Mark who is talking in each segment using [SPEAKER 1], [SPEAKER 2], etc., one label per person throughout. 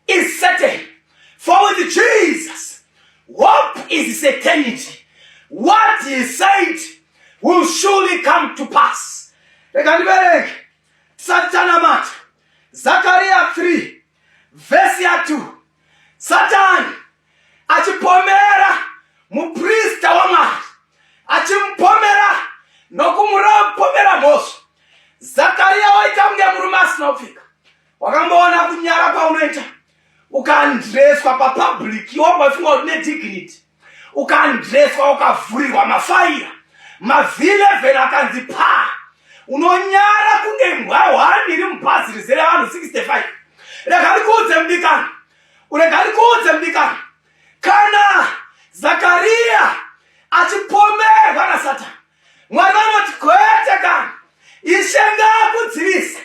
[SPEAKER 1] is certain. For with Jesus, hope is certainty. What he said will surely come to pass. Reka ndibereke Satana mata Zakaria 3 vhesi ya 2 satani achipomera muprista wamwari achimupomera nokumurapomera mhosva zakariya waita kunge murume asinopfika wakamboona kunyara kwaunoita ukandreswa papublic iwo waifunga kuti nedignity ukandreswa ukavhurirwa mafaira mavileven akanzi paa unonyara kunge mbwa hwani iri mubhazi rizere vanhu 65 rega ndikuudze mudikani urega ndikuudze mudikani kana zakariya achipomerwa nasatani Mwari vanoti kwete kana ishe ngaakudzivise.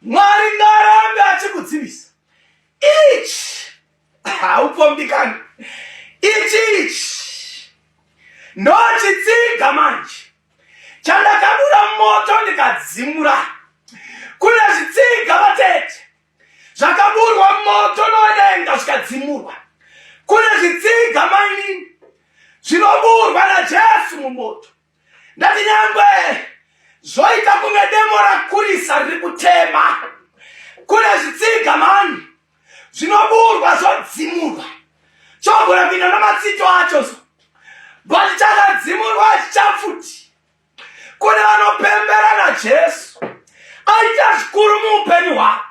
[SPEAKER 1] Mwari ngaarambe achikudzivisa. Ichi haupombikani. Ichi ichi ndochitsiga manje chandakadura moto ndikadzimura kune zvitsiga vatete zvakaburwa moto nodenga zvikadzimurwa kune zvitsiga mainini zvinoburwa najesu mumoto ndati nyangwe zvoita kunge demo rakurisa riri kutema kune zvitsiga mani zvinoburwa zvodzimurwa chogona kuinda namatsito acho so but chakadzimurwa chichafuti kune vanopembera najesu aita zvikuru muupenyu hwavo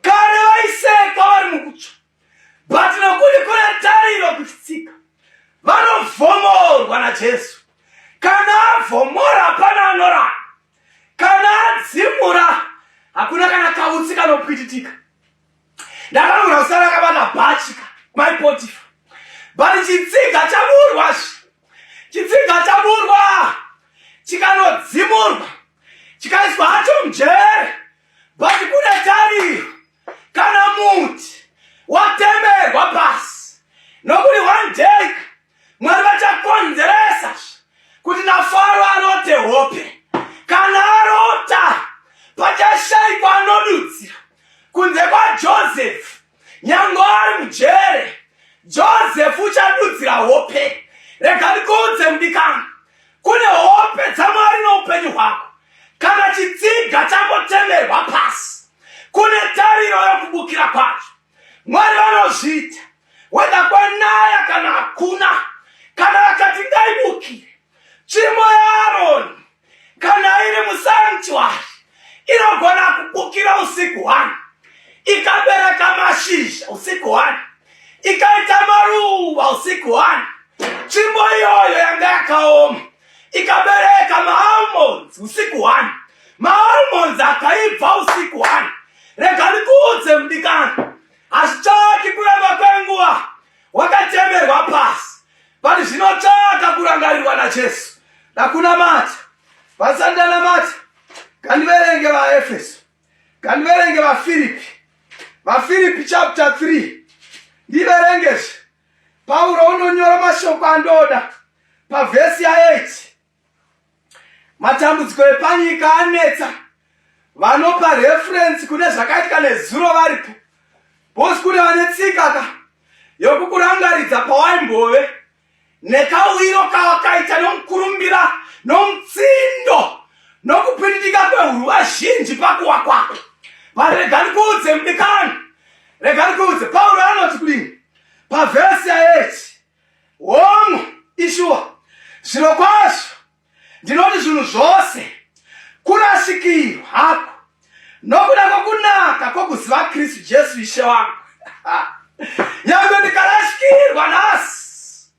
[SPEAKER 1] kare vaisekwa vari mukutsva but nokuti kune tariro kuti tsika vanovhomorwa najesu kana avhomora hapana anorara kana adzimura hakuna kana kautsi kanopwititika ndakanogona kusara akabata bhachi ka mai potifa but chitsiga chaburwa chitsiga chaburwa chikanodzimurwa chikaiswa hacho mujere but kune tariro kana muti watemerwa pasi nokuti one day Mwari vachakonzeresa kuti naFaro arote hope. Kana arota pachashaikwa anodudzira kunze kwaJosefu, nyange ari mujere, Josefu uchadudzira hope. Rega ndikuudze mudikani, kune hope dzaMwari noupenyu hwako. Kana chitsiga changotemerwa pasi, kune tariro yokubukira kwacho. Mwari vanozviita weda kwanaya kana hakuna, kana vakati ngaibukire tsvimbo yaAroni kana iri musanctuary inogona kubukira usiku hwani ikabereka mashizha usiku hwani ikaita maruva usiku hwani tsvimbo iyoyo yanga yakaoma ikabereka maalmonds usiku one maalmonds akaibva usiku one rega ndikuudze mudikani hazvitsvaki kuramba kwenguva wakatemerwa pasi but zvinotsvaka kurangarirwa najesu ndakunamata vasati ndanamata ngandiverenge vaefeso ngandiverenge vafiripi vafiripi chapter 3 ndiverengezve Pauro unonyora mashoko andoda pavhesi ya8 matambudziko epanyika anetsa vanopa referensi kune zvakaitika nezuro varipo bosi kune vane tsika ka yokukurangaridza pawaimbove nekauyiro kawakaita nomukurumbira nomutsindo nokupindika kwehuruva zhinji pakuwa kwako vanhu rega ndikuudze mudikani rega ndikuudze pauro anoti kudini Pavhesi yaedzi womwe ishuwa zviro kwazvo ndinoti zvinhu zvose kurasikirwa hako nokuda kwokunaka kwokuziva kristu jesu ishe wangu yange ndikarasikirwa nhasi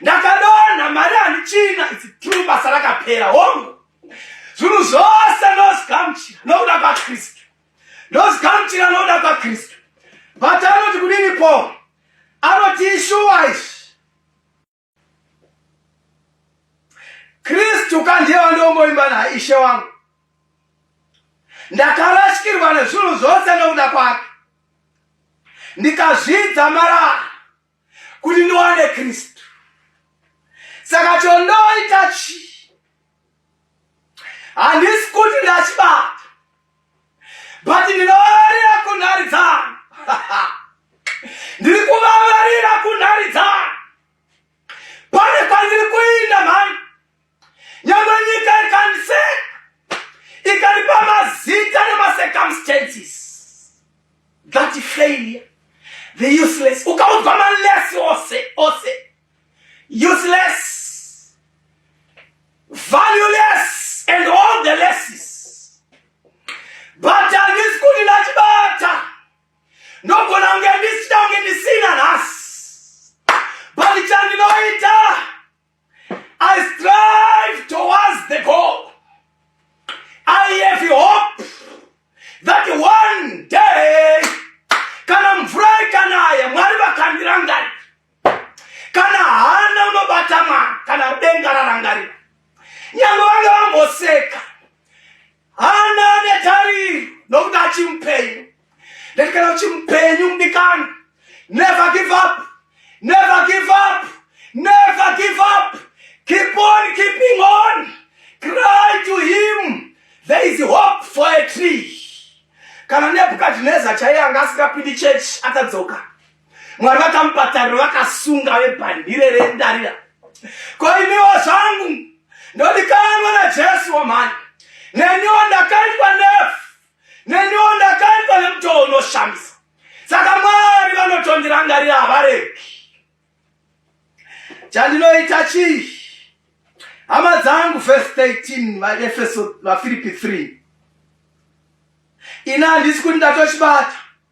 [SPEAKER 1] ndakadonha mari handichina its true basa rakapera hongu zvinhu zvose ndozigamuchira nokuda kwakristu ndozigamuchira nokuda kwakristu but anoti kudini paul anoti ishuwa izvi kristu ka ndiye wandiongoimba naye ishe wangu ndakarashikirwa nezvinhu zvose nokuda kwake ndikazvidza marara kuti ndiwane kristu saka chondoita chii handisi kuti ndachibata but ndinovavarira kunhari dzangu ndiri kuvavarira kunhari dzangu pane kwandiri kuinda mhani nyangwe nyika ikanise ikaripa mazita nemacircumstances that failure the useless ukaudzwa malesi ose ose useless valueless and all the lesses but andisi kuti ndachibata ndogona kunge ndisita kunge ndisina nhasi but chandinoita I strive towards the goal. I have hope that one day kana mvura ikanaya mwari vakandira ngari kana hana unobata mwana kana denga rarangarira nyangwe vange vamboseka Hana netariri nokuti achimupenyu ndati kana uchimupenyu mudikani never give up never give up never give up keep on keeping on cry to him there is hope for a tree kana nebukadhineza chaiye anga asingapindi chechi akadzoka mwari vakamupa tariro vakasunga vebhandire rendarira ko iniwo zvangu ndodikanwa najesu wamhani neniwo ndakaitwa nefu neniwo ndakaitwa nemutoo unoshamisa saka mwari vanotondirangarira havareki chandinoita chii hama dzangu vhesi 13 vaefeso vafiripi 3 ini handisi kuti ndatochibata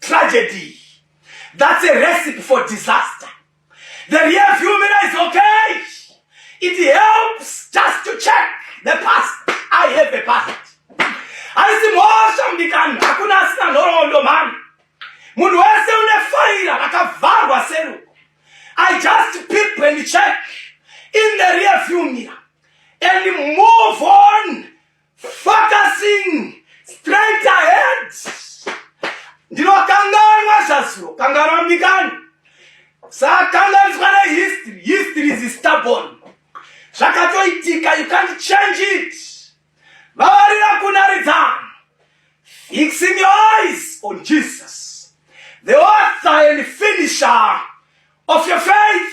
[SPEAKER 1] tragedy that's a recipe for disaster the real humina is okay it helps just to check the past i have a past haisi mhosva mudikani hakuna asina nhoroondo mhani munhu wese une faira rakavharwa seruko i just peep and check in the rear view mirror and move on Focusing straight ahead. Ndinokanganwa zvazuro, kanganwa mdikani. Sakanganiswa na history. History is stubborn. Zvakatoitika, you can't change it. Vavarira kunaridzana. Fixing your eyes on Jesus. The author and finisher of your faith.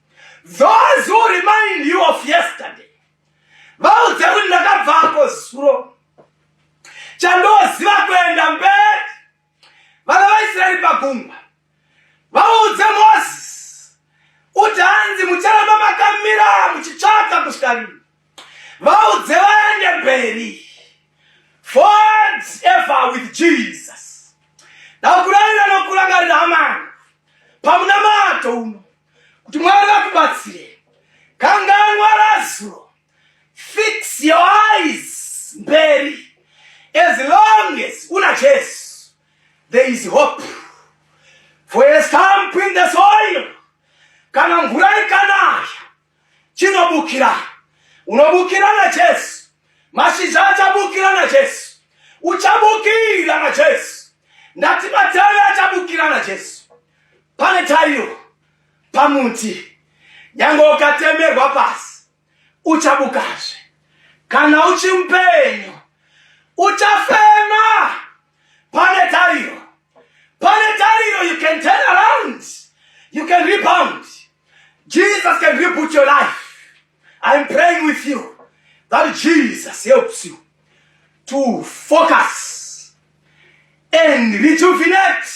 [SPEAKER 1] Those who remind you of yesterday vaudze kuti ndakabvako zuro chandoziva kuenda mberi vana vaisraeri pagungwa vaudze moses kuti hanzi mucharamba makamira muchitsvaka kusvika rini vaudze vaende mberi ford ever with jesus ndakurarira nokurangarira amana pamunamato uno kuti mwari vakubatsire kanganwa razuro fix your eyes mberi as long as una jesu there is hope for a stamp in the soil kana mvura ikanaya chinobukira. Unobukira naJesu. Mashizha achabukira naJesu. Uchabukira naJesu. Ndati matavi achabukira naJesu. Pane tariro pamuti. Nyange ukatemerwa pasi, uchabukazve. Kana uchimupenyu, uchafema. Pane tariro. Pane tariro you can turn around. You can rebound. Jesus can reboot your life. I'm praying with you that Jesus helps you to focus and rejuvenate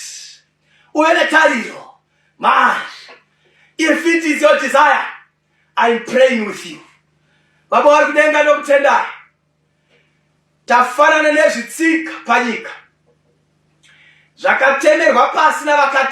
[SPEAKER 1] uve netariro manje if it is your desire i'm praying with you baba vari kudenga nokutendai tafanana nezvitsika panyika zvakatemerwa pasi navakatema